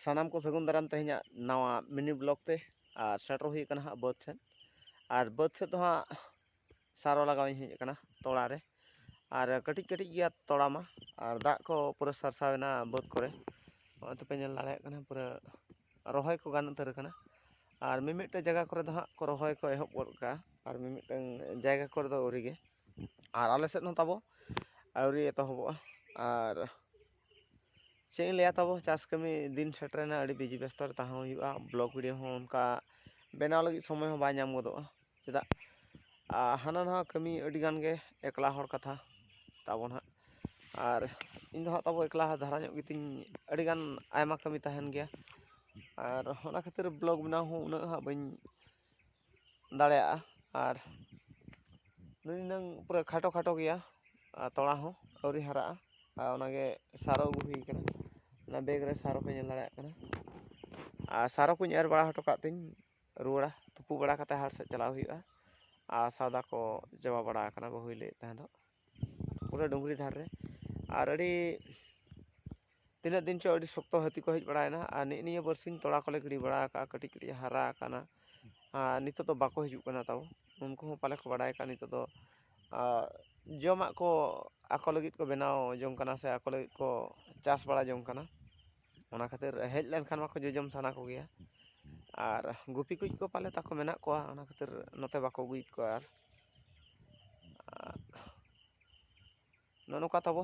ᱥᱟᱱᱟᱢ ᱠᱚ ᱥᱟᱹᱜᱩᱱ ᱫᱟᱨᱟᱢ ᱛᱮᱦᱮᱧᱟᱜ ᱱᱟᱣᱟ ᱢᱤᱱᱤ ᱵᱞᱚᱜ ᱛᱮ ᱟᱨ ᱥᱮᱴᱮᱨ ᱦᱩᱭ ᱟᱠᱟᱱᱟ ᱦᱟᱸᱜ ᱵᱟᱹᱫᱽ ᱥᱮᱫ ᱟᱨ ᱵᱟᱹᱫᱽ ᱥᱮᱫ ᱫᱚ ᱦᱟᱸᱜ ᱥᱟᱨᱚ ᱞᱟᱜᱟᱣ ᱤᱧ ᱦᱮᱡ ᱟᱠᱟᱱᱟ ᱛᱚᱲᱟ ᱨᱮ ᱟᱨ ᱠᱟᱹᱴᱤᱡ ᱠᱟᱹᱴᱤᱡ ᱜᱮᱭᱟ ᱛᱚᱲᱟ ᱢᱟ ᱟᱨ ᱫᱟᱜ ᱠᱚ ᱯᱩᱨᱟᱹ ᱥᱟᱨᱥᱟᱣ ᱮᱱᱟ ᱵᱟᱹᱫᱽ ᱠᱚᱨᱮ ᱱᱚᱜᱼᱚᱭ ᱛᱚᱯᱮ ᱧᱮᱞ ᱫᱟᱲᱮᱭᱟᱜ ᱠᱟᱱᱟ ᱯᱩᱨᱟᱹ ᱨᱚᱦᱚᱭ ᱠᱚ ᱜᱟᱱ ᱩᱛᱟᱹᱨ ᱟᱠᱟᱱᱟ ᱟᱨ ᱢᱤᱢᱤᱫᱴᱮᱱ ᱡᱟᱭᱜᱟ ᱠᱚᱨᱮ ᱫᱚ ᱦᱟᱸᱜ ᱠᱚ ᱨᱚᱦᱚᱭ ᱠᱚ ᱮᱦᱚᱵ ᱜᱚᱫ ᱠᱟᱜᱼᱟ ᱟᱨ ᱢᱤᱢᱤᱫᱴᱟᱝ ᱡᱟᱭᱜᱟ ᱠᱚᱨᱮ ᱫᱚ ᱟᱹᱣᱨᱤ ᱜᱮ ᱟᱨ ᱟᱞᱮ ᱥᱮᱫ ᱦᱚᱸ ᱛᱟᱵᱚ ᱟᱹᱣᱨᱤ ᱮᱛᱚᱦᱚᱵᱚᱜᱼᱟ ᱟᱨ ᱪᱮᱫ ᱤᱧ ᱞᱟᱹᱭᱟ ᱛᱟᱵᱚ ᱪᱟᱥ ᱠᱟᱹᱢᱤ ᱫᱤᱱ ᱥᱮᱴᱮᱨᱮᱱᱟ ᱟᱹᱰᱤ ᱵᱤᱡᱤ ᱵᱮᱥᱛᱚ ᱨᱮ ᱛᱟᱦᱮᱸ ᱦᱩᱭᱩᱜᱼᱟ ᱵᱞᱚᱜᱽ ᱵᱷᱤᱰᱤᱭᱳ ᱦᱚᱸ ᱚᱱᱠᱟ ᱵᱮᱱᱟᱣ ᱞᱟᱹᱜᱤᱫ ᱥᱚᱢᱚᱭ ᱦᱚᱸ ᱵᱟᱭ ᱧᱟᱢ ᱜᱚᱫᱚᱜᱼᱟ ᱪᱮᱫᱟᱜ ᱦᱟᱱᱟ ᱱᱟᱣᱟ ᱠᱟᱹᱢᱤ ᱟᱹᱰᱤ ᱜᱟᱱ ᱜᱮ ᱮᱠᱞᱟ ᱦᱚᱲ ᱠᱟᱛᱷᱟ ᱛᱟᱵᱚᱱ ᱦᱟᱸᱜ ᱟᱨ ᱤᱧ ᱫᱚ ᱦᱟᱸᱜ ᱛᱟᱵᱚ ᱮᱠᱞᱟ ᱫᱷᱟᱨᱟ ᱧᱚᱜ ᱜᱮᱛᱤᱧ ᱟᱹᱰᱤ ᱜᱟᱱ ᱟᱭᱢᱟ ᱠᱟᱹᱢᱤ ᱛᱟᱦᱮᱱ ᱜᱮᱭᱟ ᱟᱨ ᱚᱱᱟ ᱠᱷᱟᱹᱛᱤᱨ ᱵᱞᱚᱜᱽ ᱵᱮᱱᱟᱣ ᱦᱚᱸ ᱩᱱᱟᱹᱜ ᱦᱟᱸᱜ ᱵᱟᱹᱧ ᱫᱟᱲᱮᱭᱟᱜᱼᱟ ᱟᱨ ᱱᱩᱭ ᱦᱩᱱᱟᱹᱝ ᱯᱩᱨᱟᱹ ᱠᱷᱟᱴᱚ ᱠᱷᱟᱴᱚ ᱜᱮᱭᱟ ᱟᱨ ᱛᱚᱲᱟ ᱦᱚᱸ ᱟᱹᱣᱨᱤ ᱦᱟᱨᱟᱜᱼᱟ ᱟᱨ ᱚᱱᱟᱜᱮ ᱥᱟᱨᱚ ᱟᱹᱜᱩ ᱦᱩᱭ ᱠᱟᱱᱟ ᱚᱱᱟ ᱵᱮᱜᱽ ᱨᱮ ᱥᱟᱨᱚ ᱯᱮ ᱧᱮᱞ ᱫᱟᱲᱮᱭᱟᱜ ᱠᱟᱱᱟ ᱟᱨ ᱥᱟᱨᱚ ᱠᱚᱧ ᱮᱨ ᱵᱟᱲᱟ ᱦᱚᱴᱚ ᱠᱟᱜ ᱛᱤᱧ ᱨᱩᱣᱟᱹᱲᱟ ᱛᱩᱯᱩ ᱵᱟᱲᱟ ᱠᱟᱛᱮᱫ ᱦᱟᱴ ᱥᱮᱫ ᱪᱟᱞᱟᱣ ᱦᱩᱭᱩᱜᱼᱟ ᱟᱨ ᱥᱟᱣᱫᱟ ᱠᱚ ᱪᱟᱵᱟ ᱵᱟᱲᱟ ᱟᱠᱟᱱᱟ ᱵᱟᱹᱦᱩᱭ ᱞᱟᱹᱭᱮᱫ ᱛᱟᱦᱮᱸ ᱫᱚᱜ ᱯᱩᱨᱟᱹ ᱰᱩᱝᱨᱤ ᱫᱷᱟᱨᱮ ᱨᱮ ᱟᱨ ᱟᱹᱰᱤ ᱛᱤᱱᱟᱹᱜ ᱫᱤᱱ ᱪᱚ ᱟᱹᱰᱤ ᱥᱚᱠᱛᱚ ᱦᱟᱹᱛᱤ ᱠᱚ ᱦᱮᱡ ᱵᱟᱲᱟᱭᱮᱱᱟ ᱟᱨ ᱱᱮᱜᱼᱮ ᱱᱤᱭᱟᱹ ᱵᱟᱨᱥᱤᱧ ᱛᱚᱞᱟ ᱠᱚᱞᱮ ᱜᱤᱰᱤ ᱵᱟᱲᱟ ᱟᱠᱟᱫᱼᱟ ᱠᱟᱹᱴᱤᱡ ᱠᱟᱹᱴᱤᱡ ᱦᱟᱨᱟ ᱟᱠᱟᱱᱟ ᱟᱨ ᱱᱤᱛᱚᱜ ᱫᱚ ᱵᱟᱠᱚ ᱦᱤᱡᱩᱜ ᱠᱟᱱᱟ ᱛᱟᱵᱚ ᱩᱱᱠᱩ ᱦᱚᱸ ᱯᱟᱞᱮ ᱠᱚ ᱵᱟᱲᱟᱭ ᱠᱟᱜᱼᱟ ᱱᱤᱛᱚᱜ ᱫᱚ ᱡᱚᱢᱟᱜ ᱠᱚ ᱟᱠᱚ ᱞᱟᱹᱜᱤᱫ ᱠᱚ ᱵᱮᱱᱟᱣ ᱡᱚᱝ ᱠᱟᱱᱟ ᱥᱮ ᱟᱠᱚ ᱞᱟᱹᱜᱤᱫ ᱠᱚ ᱪᱟᱥ ᱵᱟᱲᱟ ᱡᱚᱝ ᱠᱟᱱᱟ ᱚᱱᱟ ᱠᱷᱟᱹᱛᱤᱨ ᱦᱮᱡ ᱞᱮᱱᱠᱷᱟᱱ ᱢᱟᱠᱚ ᱡᱚᱡᱚᱢ ᱥᱟᱱᱟ ᱠᱚᱜᱮᱭᱟ ᱟᱨ ᱜᱩᱯᱤ ᱠᱚ ᱯᱟᱞᱮ ᱛᱟᱠᱚ ᱢᱮᱱᱟᱜ ᱠᱚᱣᱟ ᱚᱱᱟ ᱠᱷᱟᱹᱛᱤᱨ ᱱᱚᱛᱮ ᱵᱟᱠᱚ ᱟᱹᱜᱩᱭᱮᱫ ᱠᱚᱣᱟ ᱟᱨ ᱟᱨ ᱱᱚᱜᱼᱚ ᱱᱚᱝᱠᱟ ᱛᱟᱵᱚ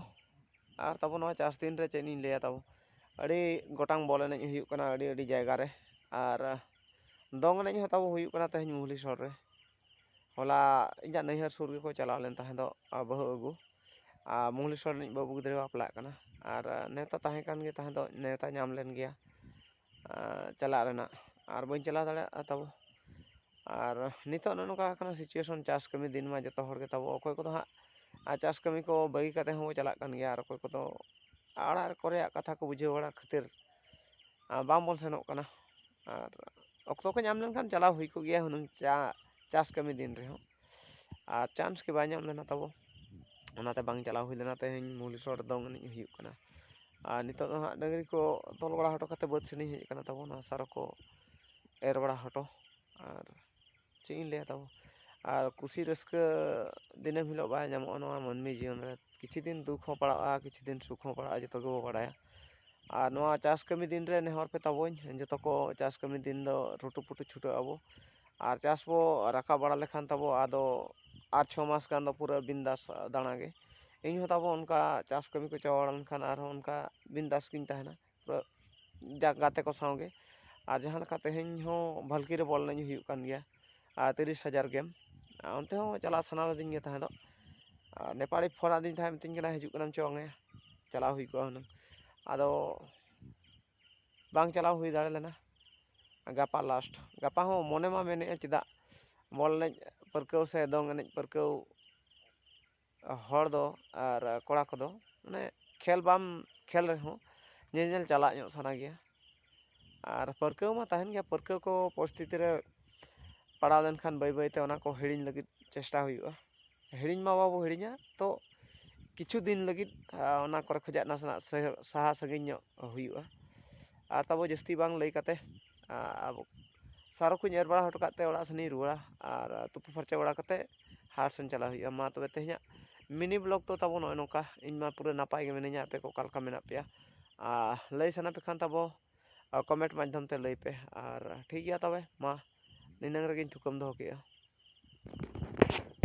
ᱟᱨ ᱛᱟᱵᱚ ᱱᱚᱣᱟ ᱪᱟᱥ ᱫᱤᱱ ᱨᱮ ᱪᱮᱫ ᱤᱧ ᱞᱟᱹᱭᱟ ᱛᱟᱵᱚ ᱟᱹᱰᱤ ᱜᱚᱴᱟᱝ ᱵᱚᱞ ᱮᱱᱮᱡ ᱦᱩᱭᱩᱜ ᱠᱟᱱᱟ ᱟᱹᱰᱤ ᱟᱹᱰᱤ ᱡᱟᱭᱜᱟ ᱨᱮ ᱟᱨ ᱫᱚᱝ ᱮᱱᱮᱡ ᱦᱚᱸ ᱛᱟᱵᱚ ᱦᱩᱭᱩᱜ ᱠᱟᱱᱟ ᱛᱮᱦᱮᱧ ᱢᱩᱦᱞᱤ ᱥᱚᱦᱚᱨ ᱨᱮ ᱦᱚᱞᱟ ᱤᱧᱟᱹᱜ ᱱᱟᱹᱭᱦᱟᱹᱨ ᱥᱩᱨ ᱜᱮᱠᱚ ᱪᱟᱞᱟᱣ ᱞᱮᱱ ᱛᱟᱦᱮᱸ ᱫᱚ ᱵᱟᱹᱦᱩ ᱟᱹᱜᱩ ᱟᱨ ᱢᱩᱦᱞᱤ ᱥᱚᱦᱚᱨ ᱨᱤᱱᱤᱡ ᱵᱟᱹᱵᱩ ᱜᱤᱫᱽᱨᱟᱹᱭ ᱵᱟᱯᱞᱟᱜ ᱠᱟᱱᱟ ᱟᱨ ᱱᱮᱶᱛᱟ ᱛᱟᱦᱮᱸ ᱠᱟᱱ ᱜᱮ ᱛᱟᱦᱮᱸ ᱫᱚ ᱱᱮᱶᱛᱟ ᱧᱟᱢ ᱞᱮᱱ ᱜᱮᱭᱟ ᱪᱟᱞᱟᱜ ᱨᱮᱱᱟᱜ ᱟᱨ ᱵᱟᱹᱧ ᱪᱟᱞᱟᱣ ᱫᱟᱲᱮᱭᱟᱜᱼᱟ ᱛᱟᱵᱚ ᱟᱨ ᱱᱤᱛᱚᱜ ᱱᱚᱜᱼᱚ ᱱᱚᱝᱠᱟ ᱟᱠᱟᱱᱟ ᱥᱤᱪᱩᱭᱮᱥᱚᱱ ᱪᱟᱥ ᱠᱟᱹᱢᱤ ᱫᱤᱱ ᱢᱟ ᱡᱚᱛᱚ ᱦᱚᱲ ᱜᱮ ᱛᱟᱵᱚ ᱚᱠᱚᱭ ᱠᱚᱫᱚ ᱦᱟᱸᱜ ᱟᱨ ᱪᱟᱥ ᱠᱟᱹᱢᱤ ᱠᱚ ᱵᱟᱹᱜᱤ ᱠᱟᱛᱮ ᱦᱚᱸᱵᱚᱱ ᱪᱟᱞᱟᱜ ᱠᱟᱱ ᱜᱮᱭᱟ ᱟᱨ ᱚᱠᱚᱭ ᱠᱚᱫᱚ ᱚᱲᱟᱜ ᱠᱚᱨᱮᱭᱟᱜ ᱠᱟᱛᱷᱟ ᱠᱚ ᱵᱩᱡᱷᱟᱹᱣ ᱵᱟᱲᱟ ᱠᱷᱟᱹᱛᱤᱨ ᱵᱟᱝᱵᱚᱱ ᱥᱮᱱᱚᱜ ᱠᱟᱱᱟ ᱟᱨ ᱚᱠᱛᱚ ᱠᱚ ᱧᱟᱢ ᱞᱮᱱᱠᱷᱟᱱ ᱪᱟᱞᱟᱣ ᱦᱩᱭ ᱠᱚᱜ ᱜᱮᱭᱟ ᱦᱩᱱᱟᱹᱝ ᱪᱟᱥ ᱠᱟᱹᱢᱤ ᱫᱤᱱ ᱨᱮᱦᱚᱸ ᱟᱨ ᱪᱟᱱᱥ ᱜᱮ ᱵᱟᱭ ᱧᱟᱢ ᱞᱮᱱᱟ ᱛᱟᱵᱚ ᱚᱱᱟᱛᱮ ᱵᱟᱝ ᱪᱟᱞᱟᱣ ᱦᱩᱭ ᱞᱮᱱᱟ ᱛᱮᱦᱮᱧ ᱢᱩᱞᱤᱥᱚᱨ ᱫᱚᱝ ᱮᱱᱮᱡ ᱦᱩᱭᱩᱜ ᱠᱟᱱᱟ ᱟᱨ ᱱᱤᱛᱚᱜ ᱫᱚ ᱦᱟᱸᱜ ᱰᱟᱹᱝᱨᱤ ᱠᱚ ᱛᱚᱞ ᱵᱟᱲᱟ ᱦᱚᱴᱚ ᱠᱟᱛᱮᱫ ᱵᱟᱹᱫᱽ ᱥᱮᱱᱤᱧ ᱦᱮᱡ ᱠᱟᱱᱟ ᱛᱟᱵᱚ ᱱᱚᱣᱟ ᱥᱟᱨ ᱠᱚ ᱮᱨ ᱵᱟᱲᱟ ᱦᱚᱴᱚ ᱟᱨ ᱪᱮᱫ ᱤᱧ ᱞᱟᱹᱭᱟ ᱛᱟᱵᱚ ᱟᱨ ᱠᱩᱥᱤ ᱨᱟᱹᱥᱠᱟᱹ ᱫᱤᱱᱟᱹᱢ ᱦᱤᱞᱳᱜ ᱵᱟᱭ ᱧᱟᱢᱚᱜᱼᱟ ᱱᱚᱣᱟ ᱢᱟᱹᱱᱢᱤ ᱡᱤᱭᱚᱱ ᱨᱮ ᱠᱤᱪᱷᱩ ᱫᱤᱱ ᱫᱩᱠ ᱦᱚᱸ ᱯᱟᱲᱟᱜᱼᱟ ᱠᱤᱪᱷᱩ ᱫᱤᱱ ᱥᱩᱠ ᱦᱚᱸ ᱯᱟᱲᱟᱜᱼᱟ ᱡᱚᱛᱚ ᱜᱮᱵᱚ ᱵᱟᱲᱟᱭᱟ ᱟᱨ ᱱᱚᱣᱟ ᱪᱟᱥ ᱠᱟᱹᱢᱤ ᱫᱤᱱ ᱨᱮ ᱱᱮᱦᱚᱨ ᱯᱮ ᱛᱟᱵᱚᱧ ᱡᱚᱛᱚ ᱠᱚ ᱪᱟᱥ ᱠᱟᱹᱢᱤ ᱫᱤᱱ ᱫᱚ ᱨᱩᱴᱩ ᱯᱩᱴᱩ ᱪᱷᱩᱴᱟᱹᱜ ᱟᱵᱚ ᱟᱨ ᱪᱟᱥ ᱵᱚ ᱨᱟᱠᱟᱵ ᱵᱟᱲᱟ ᱞᱮᱠᱷᱟᱱ ᱛᱟᱵᱚ ᱟᱫᱚ ᱟᱨ ᱪᱷᱚ ᱢᱟᱥ ᱜᱟᱱ ᱫᱚ ᱯᱩᱨᱟᱹ ᱵᱤᱱᱫᱟᱥ ᱫᱟᱬᱟ ᱜᱮ ᱤᱧ ᱦᱚᱸ ᱛᱟᱵᱚ ᱚᱱᱠᱟ ᱪᱟᱥ ᱠᱟᱹᱢᱤ ᱠᱚ ᱪᱟᱵᱟ ᱵᱟᱲᱟ ᱞᱮᱱᱠᱷᱟᱱ ᱟᱨᱦᱚᱸ ᱚᱱᱠᱟ ᱵᱤᱱᱫᱟᱥ ᱜᱤᱧ ᱛᱟᱦᱮᱱᱟ ᱡᱟᱠ ᱜᱟᱛᱮ ᱠᱚ ᱥᱟᱶᱜᱮ ᱟᱨ ᱡᱟᱦᱟᱸ ᱞᱮᱠᱟ ᱛᱮᱦᱮᱧ ᱦᱚᱸ ᱵᱷᱟᱞᱠᱤ ᱨᱮ ᱵᱚᱞ ᱮᱱᱮᱡ ᱦᱩᱭᱩᱜ ᱠᱟᱱ ᱜᱮᱭᱟ ᱟᱨ ᱛᱤᱨᱤᱥ ᱦᱟᱡᱟᱨ ᱜᱮᱢ ᱟᱨ ᱚᱱᱛᱮ ᱦᱚᱸ ᱪᱟᱞᱟᱜ ᱥᱟᱱᱟ ᱞᱤᱫᱤᱧ ᱜᱮ ᱛᱟᱦᱮᱸ ᱫᱚ ᱟᱨ ᱱᱮᱯᱟᱞᱤ ᱯᱷᱳᱱ ᱟᱹᱫᱤᱧ ᱛᱟᱦᱮᱸᱫ ᱢᱤᱛᱟᱹᱧ ᱠᱟᱱᱟᱭ ᱦᱤᱡᱩᱜ ᱠᱟᱱᱟᱢ ᱪᱚ ᱪᱟᱞᱟᱣ ᱦᱩᱭ ᱠᱚᱜᱼᱟ ᱦᱩᱱᱟᱹᱝ ᱟᱫᱚ ᱵᱟᱝ ᱪᱟᱞᱟᱣ ᱦᱩᱭ ᱫᱟᱲᱮ ᱞᱮᱱᱟ ᱜᱟᱯᱟ ᱞᱟᱥᱴ ᱜᱟᱯᱟ ᱦᱚᱸ ᱢᱚᱱᱮ ᱢᱟ ᱢᱮᱱᱮᱫᱼᱟ ᱪᱮᱫᱟᱜ ᱵᱚᱞ ᱮᱱᱮᱡ ᱯᱟᱹᱨᱠᱟᱹᱣ ᱥᱮ ᱫᱚᱝ ᱮᱱᱮᱡ ᱯᱟᱹᱨᱠᱟᱹᱣ ᱦᱚᱲ ᱫᱚ ᱟᱨ ᱠᱚᱲᱟ ᱠᱚᱫᱚ ᱢᱟᱱᱮ ᱠᱷᱮᱞ ᱵᱟᱢ ᱠᱷᱮᱞ ᱨᱮᱦᱚᱸ ᱧᱮᱧᱮᱞ ᱪᱟᱞᱟᱜ ᱧᱚᱜ ᱥᱟᱱᱟ ᱜᱮᱭᱟ ᱟᱨ ᱯᱟᱹᱨᱠᱟᱹᱣ ᱢᱟ ᱛᱟᱦᱮᱱ ᱜᱮᱭᱟ ᱯᱟᱹᱨᱠᱟᱹᱣ ᱠᱚ ᱯᱚᱨᱤᱥᱛᱷᱤᱛᱤ ᱨᱮ ᱯᱟᱲᱟᱣ ᱞᱮᱱᱠᱷᱟᱱ ᱵᱟᱹᱭ ᱵᱟᱹᱭ ᱛᱮ ᱚᱱᱟ ᱠᱚ ᱦᱤᱲᱤᱧ ᱞᱟᱹᱜᱤᱫ ᱪᱮᱥᱴᱟ ᱦᱩᱭᱩᱜᱼᱟ ᱦᱤᱲᱤᱧ ᱢᱟ ᱵᱟᱵᱚ ᱦᱤᱲᱤᱧᱟ ᱛᱚ ᱠᱤᱪᱷᱩ ᱫᱤᱱ ᱞᱟᱹᱜᱤᱫ ᱚᱱᱟ ᱠᱚᱨᱮ ᱠᱷᱚᱱᱟᱜ ᱱᱟᱥᱮᱱᱟᱜ ᱥᱟᱦᱟ ᱥᱟᱺᱜᱤᱧ ᱧᱚᱜ ᱦᱩᱭᱩᱜᱼᱟ ᱟᱨ ᱛᱟᱵᱚ ᱡᱟᱹᱥᱛᱤ ᱵᱟᱝ ᱞᱟᱹᱭ ᱠᱟᱛᱮᱫ ᱟᱵᱚ ᱥᱟᱨᱚ ᱠᱚᱧ ᱮᱨ ᱵᱟᱲᱟ ᱦᱚᱴᱚ ᱠᱟᱜ ᱛᱮ ᱚᱲᱟᱜ ᱥᱮᱱᱤᱧ ᱨᱩᱣᱟᱹᱲᱟ ᱟᱨ ᱛᱩᱯᱩ ᱯᱷᱟᱨᱪᱟ ᱵᱟᱲᱟ ᱠᱟᱛᱮᱫ ᱦᱟᱴ ᱥᱮᱱ ᱪᱟᱞᱟᱜ ᱦᱩᱭᱩᱜᱼᱟ ᱢᱟ ᱛᱚᱵᱮ ᱛᱮᱦᱮᱧᱟᱜ ᱢᱤᱱᱤ ᱵᱞᱚᱜᱽ ᱫᱚ ᱛᱟᱵᱚ ᱱᱚᱜᱼᱚᱭ ᱱᱚᱝᱠᱟ ᱤᱧ ᱢᱟ ᱯᱩᱨᱟᱹ ᱱᱟᱯᱟᱭ ᱜᱮ ᱢᱤᱱᱟᱹᱧᱟ ᱟᱯᱮ ᱠᱚ ᱚᱠᱟ ᱞᱮᱠᱟ ᱢᱮᱱᱟᱜ ᱯᱮᱭᱟ ᱟᱨ ᱞᱟᱹᱭ ᱥᱟᱱᱟ ᱯᱮ ᱠᱷᱟᱱ ᱛᱟᱵᱚ ᱠᱚᱢᱮᱱᱴ ᱢᱟᱫᱽᱫᱷᱚᱢ ᱛᱮ ᱞᱟᱹᱭ ᱯᱮ ᱟᱨ ᱴᱷᱤᱠ ᱜᱮᱭᱟ ᱛᱚᱵᱮ ᱢᱟ ᱱᱤᱱᱟᱹᱝ ᱨᱮᱜᱮᱧ ᱛᱷᱩᱠᱟᱹᱢ ᱫᱚᱦᱚ ᱠᱮᱫᱼᱟ